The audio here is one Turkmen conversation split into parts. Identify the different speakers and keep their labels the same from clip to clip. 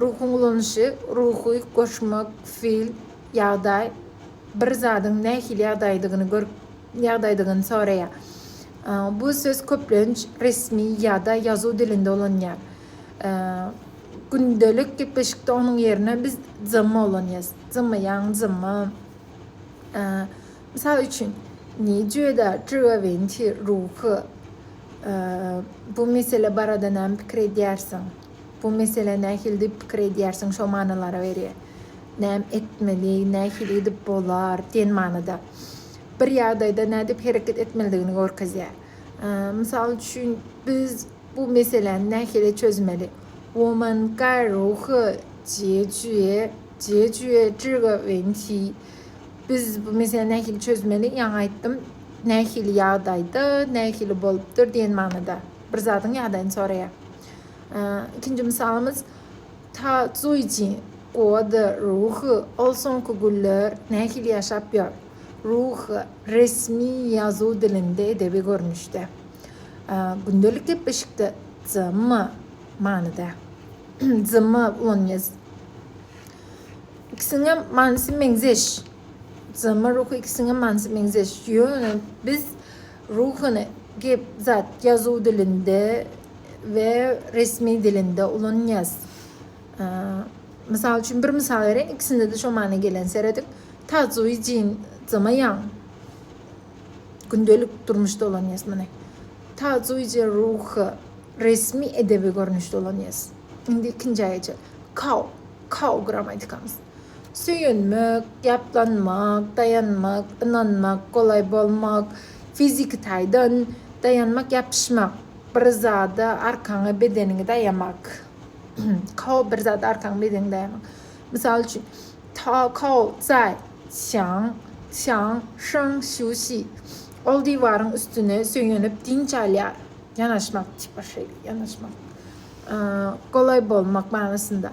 Speaker 1: Ruhuň ulanyşy, ruhy goşmak, fil, ýagdaý, bir zadyň nähili ýagdaýdygyny görüp, ýagdaýdygyny soraýar. Bu söz köplenç resmi ýa-da ýazuw dilinde ulanýar. Gündelik gepleşikde onuň ýerine biz zymma ulanýarys. Zymma ýaň, zymma. Mysal üçin, Ni jue da zhiwa wen ti ruhu. Bu mesele barada näme pikir edýärsiň? Bu mesele nähilidir pikir edýärsiň şo manylara berýär. Näme etmeli, nähili edip bolar diýen manyda. Bir ýagdaýda nädip hereket etmelidigini görkezýär. Mysal üçin biz bu meseläni nähili çözmeli. Woman gai rou he jie jue jie jue zhi ge wen ti. Biz bu meseläni nähili çözmeli, ýaňy aýtdym, nähili ýagdaýda, nähili bolupdyr diýen manyda. Bir zadyň ýadaýyny soraýar. Ikinji mysalymyz Ta zuýji goda ruhy, ol soňky günler nähili ýaşap ýör? Ruhy, resmi ýazuw dilinde edebi görnüşde. Gündelik gepleşikde zma manyda. Zma ulanýas. İkisiňem manysy meňzeş. Zma ruhy ikisiňem manysy meňzeş. Ýöne biz Ruhany gep zat ýazuw dilinde we resmi dilinde ulanýas. Mysal üçin bir mysal bereýin, ikisinde-de şo mana gelen serediň. Tazuý jin zama ýan. Gündelik durmuşda ulanýas muny. Tazuý je ruhy resmi edebi görnüşde ulanýas. Indi ikinji aýaja. Kau, kau gramatikamyz. Söýenmek, ýaplanmak, daýanmak, ynanmak, golaý bolmak, fiziki taýdan, daýanmak, ýapyşmak, bir zada arkaňy, bedeniňi daýamak. Kao bir zada arkaňy, bedeniňi daýamak. Mysal üçin, Ta Kao zai xiang xiang sheng xiu xi. Ol diwaryň üstüne söýenip dynç alýar. Ýanaşmak, tipa şeýle, ýanaşmak. Golaý bolmak manysynda.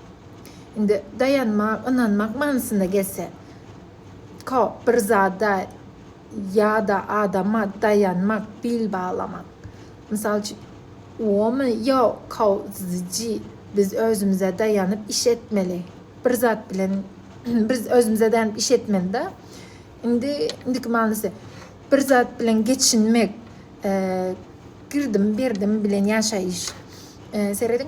Speaker 1: Indi daýanmak, ynanmak manysyna gelse, ko, bir zada ýa-da adama daýanmak, bil baglamak. Mysal üçin, wo me ýa ko ziji, biz özümize daýanyp iş etmeli. Bir zat bilen biz özümize daýanyp iş etmeli-de. Indi indiki manysy, bir zat bilen geçinmek, girdim-berdim bilen ýaşaýyş. Serediň.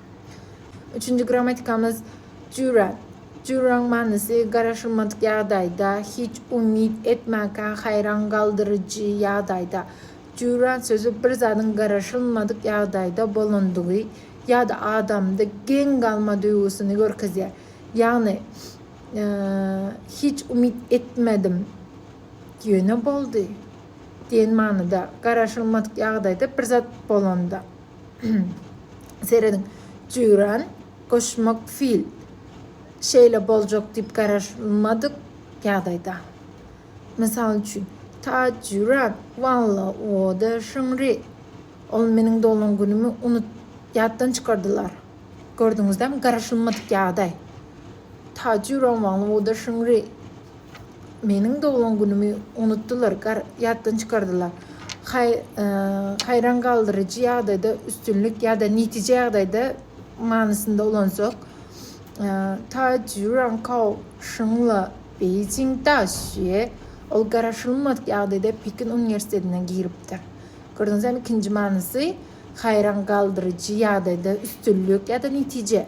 Speaker 1: Üçünji grammatikamyz Jüre. Jüräň manysy garaşylmadyk ýagdaýda, hiç umyt etmänkä haýran galdyryjy ýagdaýda. Jüre sözi bir zadyň garaşylmadyk ýagdaýda bolandygy ýa-da adamda geň galma duýgusyny görkezýär. Ýagny, hiç umyt etmedim, ýöne boldy diýen manyda, garaşylmadyk ýagdaýda bir zat bolanda. Serediň, Jüýran goşmak fil şeýle boljak diýip garaşmadyk ýagdaýda. Mysal üçin, Ta Jüýran, walla, o-da Şyňry. Ol meniň doglan günümi unut, ýatdan çykardylar. Gördüňizdämi, garaşylmadyk ýagdaý. Ta Jüýran, walla, o-da Şyňry. Meniň doglan günümi unutdylar, ýatdan çykardylar. Haý, haýran galdyryjy ýagdaýda üstünlik ýa-da netije ýagdaýda manysynda ulansak, Ta jüran kao şinla Beýjing da şüýe, ol garaşylmadyk ýagdaýda Pekin uniwersitetine giripdir. Gördüňizem, ikinji manysy haýran galdyryjy ýagdaýda üstünlik ýa-da netije.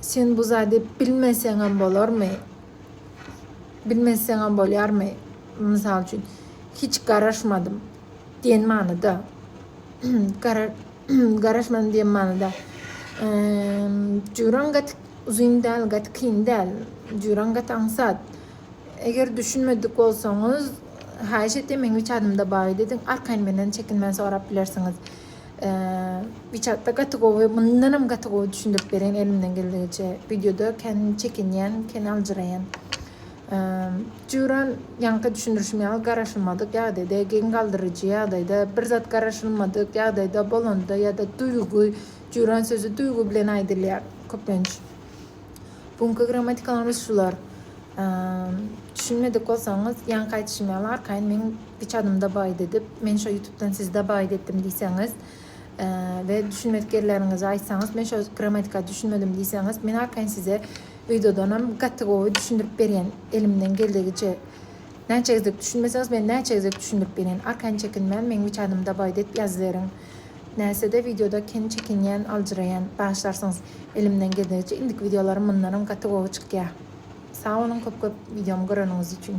Speaker 1: Sen bu zady bilmeseňem bolarmy? Bilmeseňem bolýarmy? Mysal üçin, hiç garaşmadym diýen manyda. Garaşmadym diýen manyda. Jüwran gaty uzyn däl, gaty kyn däl. Jüwran gaty aňsat. Eger düşünmedik bolsaňyz, haýyş etýän, meň üç adym-da bar, diýdiň. Arkaýyn menden çekinmän sorap bilersiňiz. Bir çakda gaty gowy, mundanam gaty gowy düşündirip bereýin elimden geldigiçe. Wideoda kän çekinýän, kän aljyraýan. Juran ýaňky düşündirişim ýaly garaşylmadyk ýagdaýda, geň galdyryjy ýagdaýda, bir zat garaşylmadyk ýagdaýda bolanda ýa-da duýgy, juran sözi duýgy bilen aýdylýar köplenç. Bu günki grammatikalary şular. Düşünmedik bolsaňyz, ýaňky aýdyşym ýaly arkaýyn meň üç adymda baýt edip, men şo ýutubdan sizde baýt etdim diýseňiz we düşünmedik ýerleriňizi aýtsaňyz, men şo grammatika düşünmedim diýseňiz, men arkaýyn size öýdedanam gaty gowy düşündirip berýän elimden geldigiçe. Näçe gezek düşünmeseňiz, men näçe gezek düşündirip berýän. Arkaýyn çekinmän meň üç adymda baýt edip ýazyberiň. Näsede wideoda kem çekinýän aljyraýan. Bagyşlarsyňyz. Elimden geldigiçe indiki wideolarym mundanam gaty gowy çykýa. Sag boluň köp köp wideomy göreniňiz üçin.